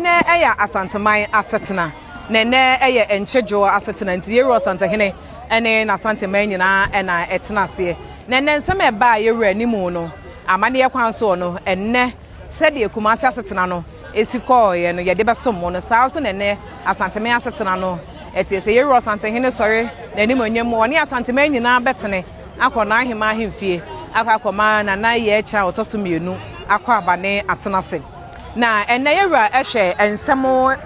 Nnɛ ɛyɛ Asanteman asetena na nnɛ ɛyɛ Nkye Djo asetena nti Yewura Ɔsantehene ne N'Asanteman nyinaa na ɛtena aseɛ na nnɛ nsɛm a ɛbaa Yewura anim no amanneɛ kwan soɔ no nnɛ sɛdeɛ Kumase asetena no si kɔɔeɛ no yɛde bɛsom mo no saa ara nso na nnɛ Asanteman asetena no teɛ. Sɛ Yewura Ɔsantehene sɔre n'animuonyam mu a ɔne Asanteman nyinaa bɛtene akɔ n'aheman ahemfie akɔ akɔma Nana Iyeacha a ɔtɔ so mmienu akɔ aba ne atena ase. Na ɛnnɛ yɛ wura hwɛ nsɛm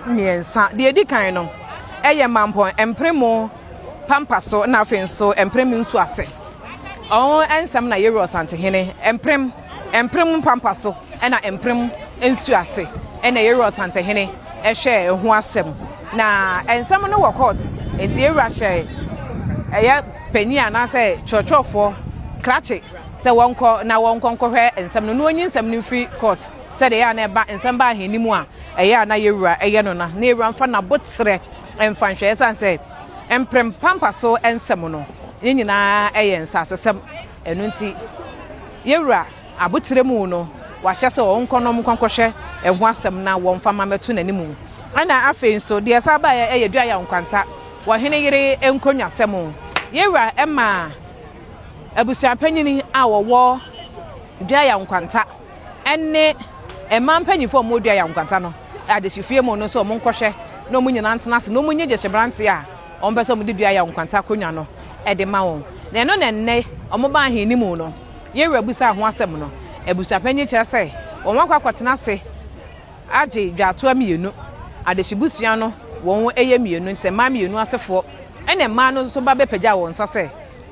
mmiɛnsa. Deɛ ɛdi kan no, ɛyɛ mampɔn mpremo pampa so na afei nso mprem nsu ase. Ɔho nsɛm na yɛ wura Ɔsantehene mprem mprem pampa so na mprem nsu ase ɛna yɛ wura Ɔsantehene ɛhwɛ ɛho asɛm. Na nsɛm no wɔ court nti yɛ wura hyɛ ɛyɛ panyin anaasɛ kyerɛkyerɛfoɔ krakye sɛ wɔnkɔ na wɔnkɔ nkɔhwɛ nsɛm no na wɔnyi nsɛm no mfiri court. sɛdeɛ ɛyɛ a na ɛba nsɛm ba ahɛnni mu a ɛyɛ a na yɛwura yɛ no na na yɛwura mfa n'aboterɛ mfa nhwɛeɛ sane sɛ mprem pampa so nsɛm no ne nyinaa yɛ nsasesɛm ɛno nti yɛwura aboterɛ mu no wahyɛ sɛ wɔnkɔ nom nkɔnkɔhwɛ ɛho asɛm na wɔmfa ma mɛto n'anim ɛna afei nso deɛ saa ba yɛ dua yɛ nkwanta wɔ hene yere nkonnwasɛm yɛwura ɛma abusuapanyini a wɔwɔ dua yɛ nkwanta ne mmaa mpanyimfo a wɔredua yɛn nkwanta no adehyefie mu no nso wɔnkɔhwɛ na wɔn nyinaa ntena ase na wɔnyi gyehye mmeranteɛ a wɔpɛ sɛ wɔde dua yɛn nkwanta akonnwa no de ma wɔn. Na ɛno na nnɛ wɔba ahennimu no, yɛn wura bisaa ho asɛm no. Abusuapanyin kyerɛ sɛ wɔakɔ akɔtena ase agye dwatoa mmienu. Adehyebusua no wɔn yɛ mmienu, te sɛ mmaa mmienu asefoɔ, ɛnna mmaa no nso ba bɛpagyaw wɔn nsa sɛ,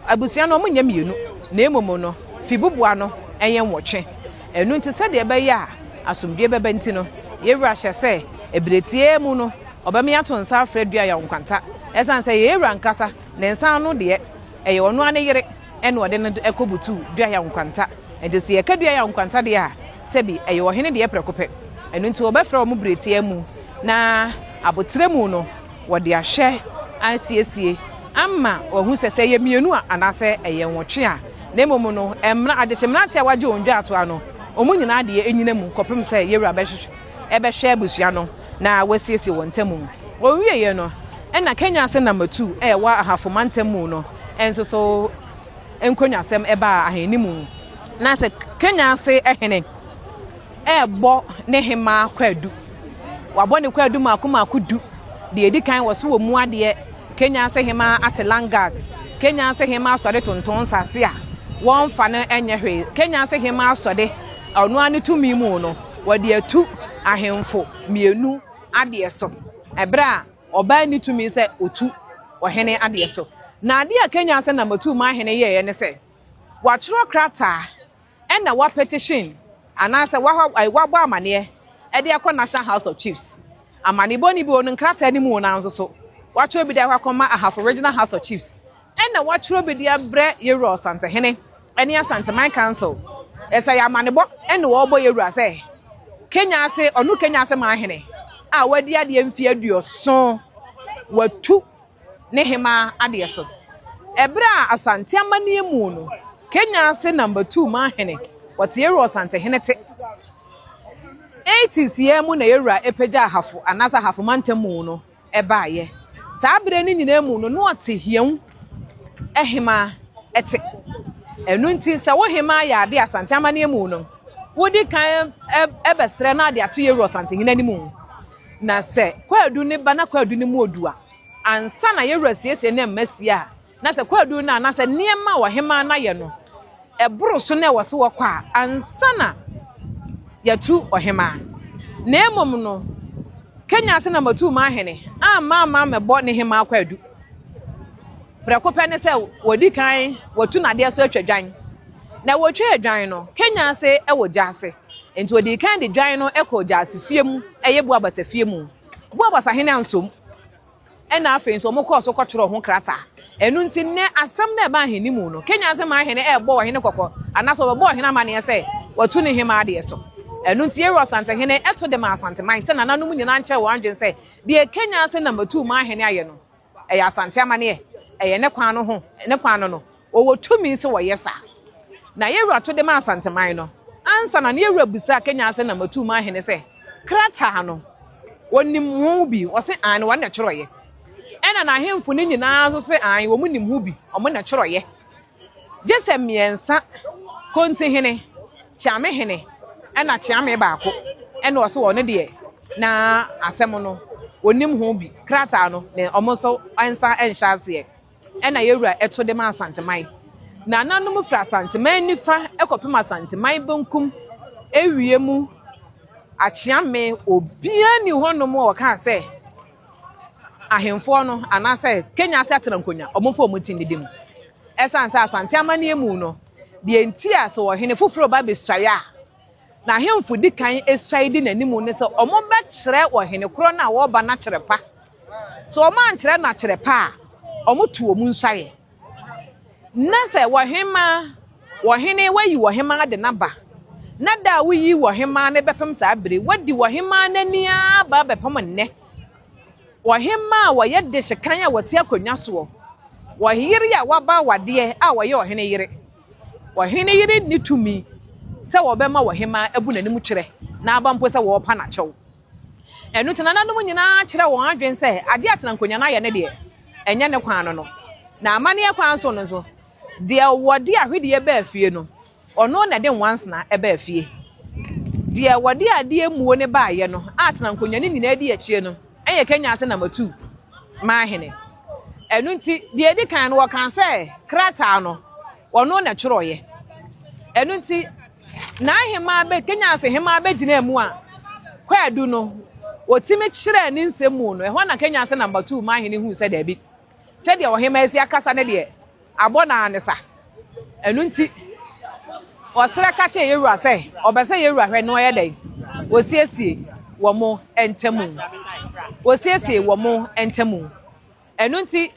Abusua no, wɔnyɛ mmienu, na mmom no, fibuboa no yɛ nwɔtwe. Ɛno nti, sɛdeɛ ɛbɛyɛ a asomdwoeɛ bɛba nti no, yɛn Wura hyɛ sɛ, ɛberɛ tiaa mu no, Ɔbɛma yɛato nsa afrɛ dua yaw nkwanta. Ɛsiane sɛ yɛn Wura ankasa, Ne nsa ano deɛ, ɛyɛ Ɔno ara Ne Yere na Ɔde no kɔbutu dua yaw nkwanta. Enti sɛ yɛka dua yaw nkwanta deɛ a, sɛbi, ɛyɛ Ɔhene deɛ prɛko pɛ. Ɛno nti, wɔbɛfrɛ wɔn berɛ tiaa mu, na aboterɛ mu no, Wɔde ahwɛ asiesie ama wɔahu sɛ sɛ ɛyɛ mmienu a anaasɛ ɛyɛ nwɔtwe a, na mmom no mmra, adehye mmeranteɛ a wɔagye wɔn dwaatoa no, wɔn nyinaa deɛ nnyina mu kɔpem sɛ Yewura bɛhwehwɛ, bɛhwɛ abusua no na wɔasiesie wɔn ntamu. Wɔwieeɛ no na Kenya ase nam Matuu a ɛwɔ Ahafo mantam mu no nso so nkɔnwasɛm baa ahenni mu. Na sɛ Kenya ase hene. rebɔ ne hemmaa kwaadu. Wabɔ ne kwaadu mmaako mmaako du. Deɛ ɛdi kan wɔ so wɔ mu adeɛ. Kenya se hemmaa ate langat. Kenya se hemmaa sɔde tonton nsase a wɔmfa no nyɛ hwee. Kenya se hemmaa sɔde a ɔno ara ne tumi mu no, wɔde atu ahemfo mmienu adeɛ so, ɛberɛ a ɔbaa nni tumi sɛ ɔtu ɔhene adeɛ so. Na adeɛ a Kenya se na Matumahene yɛeɛ ne sɛ, watwerɛ krataa Ɛna wa petition anaasɛ wa ai wa bɔ amaneɛ ɛde akɔ National House of Chiefs. Amanebɔ no bi wɔ no nkrataa no mu wɔ nanso so wa twerɛ bi de akɔ akɔma Ahafo Regional House of Chiefs. Ɛna wa twerɛ bi de abrɛ Yɛwura Ɔsantehene ɛne Asanteman Council. Ɛsɛ yɛ amanebɔ ɛna wɔ bɔ Yɛwura sɛ Kenya ase ɔno Kenya ase man hene a wa di adeɛ mfeɛ aduoson wa tu ne hemaa adeɛ so. Ɛberɛ a Asante amanneɛ mu no, Kenya ase Number Two maa hene, wɔte Yɛwura Ɔsante hene te. 80s yɛ mu na Yɛwura ɛpagya Ahafo anaasɛ Ahafo mantam mu no baeɛ. Saa berɛ no nyinaa mu no, na ɔte Hiawu hemaa te. Ɛno nti sɛ wo hemaa yɛ adeɛ Asante amanneɛ mu no, wodi kan bɛsrɛ na ade ato Yɛwura Ɔsante hene anim. Na sɛ kwaadu no ba na kwaadu no mu odu a, ansa na yɛn wura siesie ne mma sie a, na sɛ kwaadu no anaasɛ nneɛma a ɔhemaa no ayɛ no, ɛboro so na ɛwɔ so wɔkɔ a, ansa na yɛatu ɔhemaa. Na mmom no, Kenya ase na matuu m'ahene amma ama mɛbɔ ne hemaa kwaadu. Prɛko pɛ ne sɛ wɔdi kan wɔtu no adeɛ so atwa dwan. Na wɔtwaa dwan no, Kenya ase wɔ gya ase. Enti odii kan de dwan no kɔɔ Gyasi fie mu, ɛyɛ Buabasa fie mu. Buabasa hene ansom. Ɛnna afei nso wɔkɔɔ so kɔtwerɛɛ ho krataa. Ɛno nti nnɛ asɛm no a ɛba ahene mu no, Kenya ase man hene rebɔ ɔhene kɔkɔ anaasɛ ɔbɛbɔ ɔhene amanneɛ sɛ watu ne hemmaa deɛ so. Ɛno nti Yero Asantehene to de maa Asanteman sɛ nananom nyinaa nkyerɛ wɔn adwene sɛ deɛ Kenya ase nam atuu man hene ayɛ no, Ɛyɛ Asante amaneɛ. Ɛyɛ ne kwan no ho, ne kwan no no. Wɔwɔ tumi sɛ wɔyɛ saa. Na yɛn wura to de maa Asanteman no. Ansa na no yɛn wura bisaa Kenya Ase Nam Atuuma Ahene sɛ, Krataa no, wɔnim ho bi? Wɔse, Aane, wɔn na ɛtwerɛeɛ. Ɛna n'ahemfo no nyinaa nso se, Aane, wɔn nim ho bi, wɔn na ɛtwerɛeɛ. Gye sɛ mmiɛnsa, Kontihene, Kyeamehene ɛna Kyeame baako ɛna ɔse ɔno deɛ na asɛm no ɔnim ho bi, krataa no na ɔmo nso nsa nhyɛ aseɛ ɛna Yɛwura ɛto de ma Asanteman. Nananom firi Asanteman nifa ɛkɔpem Asanteman benkum ɛwiemu Akyeame obiara nni hɔnom a ɔkaa sɛ Ahemfoɔ no anaasɛ Kenya ase atena nkonya, wɔmfa wɔn ti nnidi mu. Ɛsiane sɛ Asante amanneɛ mu no, deɛ nti a sɛ ɔhene foforɔ reba abɛsuae a, n'ahemfo di kan suae di n'anim ne sɛ wɔbɛkyerɛ ɔhene korɔ no a ɔreba no akyerɛ pa. Sɛ wɔankyerɛ no akyerɛ pa a, wɔto wɔn nsuaeɛ. Na sɛ ɔhemmaa, ɔhene, wayi ɔhemmaa de no aba, na da a woyi ɔhemmaa no bɛpem saa bere, wadi ɔhemmaa no ani ara ba bɛpem nnɛ. Ɔhemmaa a ɔyɛ de hyekan a ɔte akonnwa soɔ, ɔyere a waba awadeɛ a ɔyɛ ɔhene yere. Ɔhene yere nni tumi sɛ ɔbɛma ɔhemmaa abu n'anim kyerɛ na aba mpo sɛ ɔrepa no akyɛw. Ɛno nti, nananom nyinaa kyerɛɛ wɔn adwene sɛ adeɛ a Tenankonya no ayɛ no deɛ, ɛnyɛ ne kwan no no. Na amanneɛ kwan so no nso, deɛ wɔde ahwedeɛ baa fie no, ɔno na ɛde nwansena baa fie. Deɛ wɔde adeɛ mmuo no baeɛ no a Tenankonya no nyinaa di akyire no yɛ Kenya ase na Matu maa hene. Ɛno nti, deɛ ɛdi kan no wɔkaa sɛ krataa no Ɔno na ɛtwerɛeɛ. Ɛno nti, n'ahemaa bɛ, Kenyans hemaa bɛgyinaa mu a, Kwaadu no, ɔtumi kyerɛɛ ne nsɛm mu no, ɛhɔ na Kenyans Number Two maa hene hui sɛ daabi, sɛdeɛ ɔhemaa si akasa no deɛ, abɔ no ara ne sa. Ɛno nti, ɔserɛ ka kyerɛɛ Yewura sɛ, ɔpɛ sɛ Yewura hwɛ na ɔyɛ dɛn? Ɔsiesie wɔn ntamu. Ɔsiesie wɔn ntamu. Ɛno nti,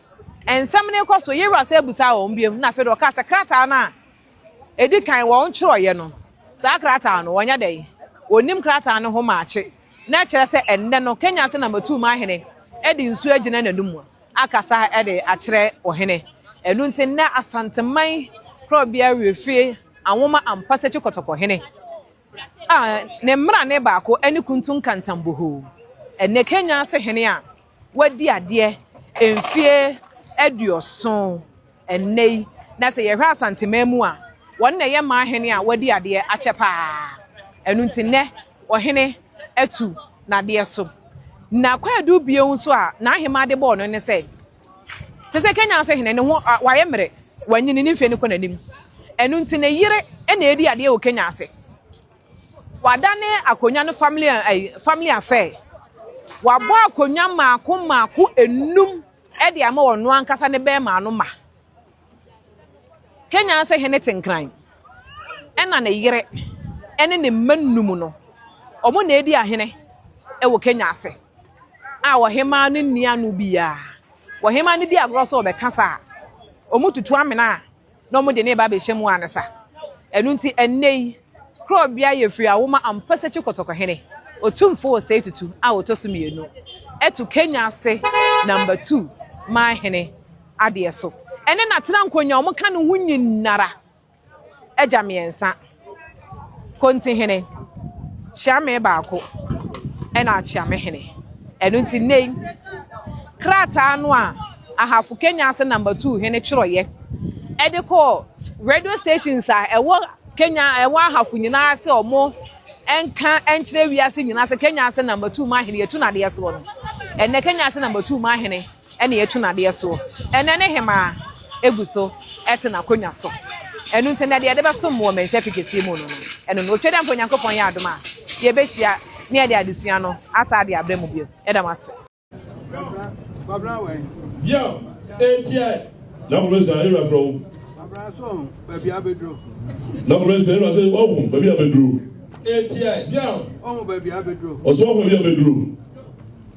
nsɛm no rekɔ so, Yehowa san bisaa wɔn bio, na afei de ɔkaa sɛ krataa no a edi kan wɔkyerɛeɛ no, saa krataa no, wɔnyɛ dɛn? Wɔnim krataa no ho maakye. Na ɛkyerɛ sɛ ɛnnɛ no, Kenya ase na matuu m'ahene de nsuo agyina n'anom akasa de akyerɛ ɔhene. Ɛno nti, nnɛ Asanteman Korɔbea Wiefie anwoma ampa sɛ Kyikɔtɔkɔhene a ne mmara ne baako ne Kuntu Nkantan Bohoo, ɛnnɛ Kenya ase hene a. wadi adeɛ mfeɛ aduɔson ɛnnɛ yi, na sɛ yɛhwɛ Asanteman mu a, wɔn na ɛyɛ mmaa hene a wadi adeɛ akyɛ paa. Ɛno nti nnɛ ɔhene atu n'adeɛ so. Na kwaadu bio nso a n'ahema de bɔɔ no ne sɛ, sɛ sɛ kenya ase hene ne ho wayɛ mmerɛ, wanyini ne mfeɛ no kɔ n'anim. Ɛno nti ne yere na ɛdi adeɛ wɔ kenya ase. Wɔadane akonnwa no family ɛyi family affair. Wɔabɔ akonnwa mmaako mmaako enum de ama ɔno ankasa ne bɛrima no ma. Kenya ase hene te nkran. Ɛna ne yere ɛne ne mma num no, wɔn na edi ahene ɛwɔ Kenya ase. A ɔhemaa no nni ano biara. Ɔhemaa no di agorɔ sɛ ɔbɛka saa a, wɔtutu amena a. na wɔde no reba abɛhyɛ mu ansa. Ɛno nti, ɛnnɛ yi, kuro a obiara yɛ firi awo ma Ampasakyi Kɔtɔkɔhene, Otumfo Osei Tutu a ɔtɔ so mmienu, to Kenya ase Number Two man hene adeɛ so. Ɛne n'atenankonnwa a wɔka ne ho nyinara agya mmiɛnsa. Kontihene, kyea me baako na akyea me hene. Ɛno nti nnɛ yi, krataa no a Ahafo Kenya ase number two hene twerɛeɛ ɛde kɔɔ radio stations a ɛwɔ Kenya ɛwɔ ahafo nyinaa sɛ wɔn nka nkyerɛ wiase nyinaa sɛ Kenya ase number two mahene yɛtu n'adeɛ soɔ no ɛnɛ Kenya ase number two mahene na yɛatu n'adeɛ soɔ. Ɛnnɛ ne hemaa gu so te n'akonnwa so. Ɛno nti, ɛnnɛ deɛ yɛde bɛsom wɔ mmɛnhyɛ afe kɛseɛ mu no, ɛno no. Otwa dɛ ampa Onyankopɔn yɛ adom a, yɛbɛhyia na yɛde adesua no asan de abrɛ mo bio. Yɛda mo ase. Yam etiɛ na kɔmɛ sɛ ayira fɛ o. Abra so ɔhun baabi abeduro. Na kɔmɛ sɛ ayira sɛ ɔhun baabi abeduro. Etiɛ yam ɔhun baabi abeduro. Ɔsɔ ɔhun baabi abeduro.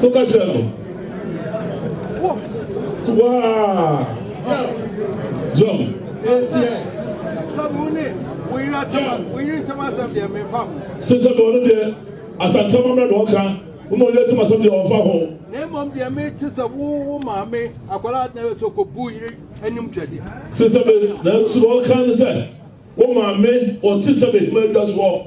Toka hyɛ no. Waa. Jɔn. Sisan bɔ olu deɛ asantama mɛ dɔn kan olu olu tuma sɛbi deɛ ɔfa hɔ. na mmom deɛ me te sɛ wo wo maame akwadaa na yɛ so kɔ bu yiri anim twɛdeɛ. sisan bɛ na nso ɔka ne sɛ wo maame ɔte sɛ bɛ hima adwa soɔ.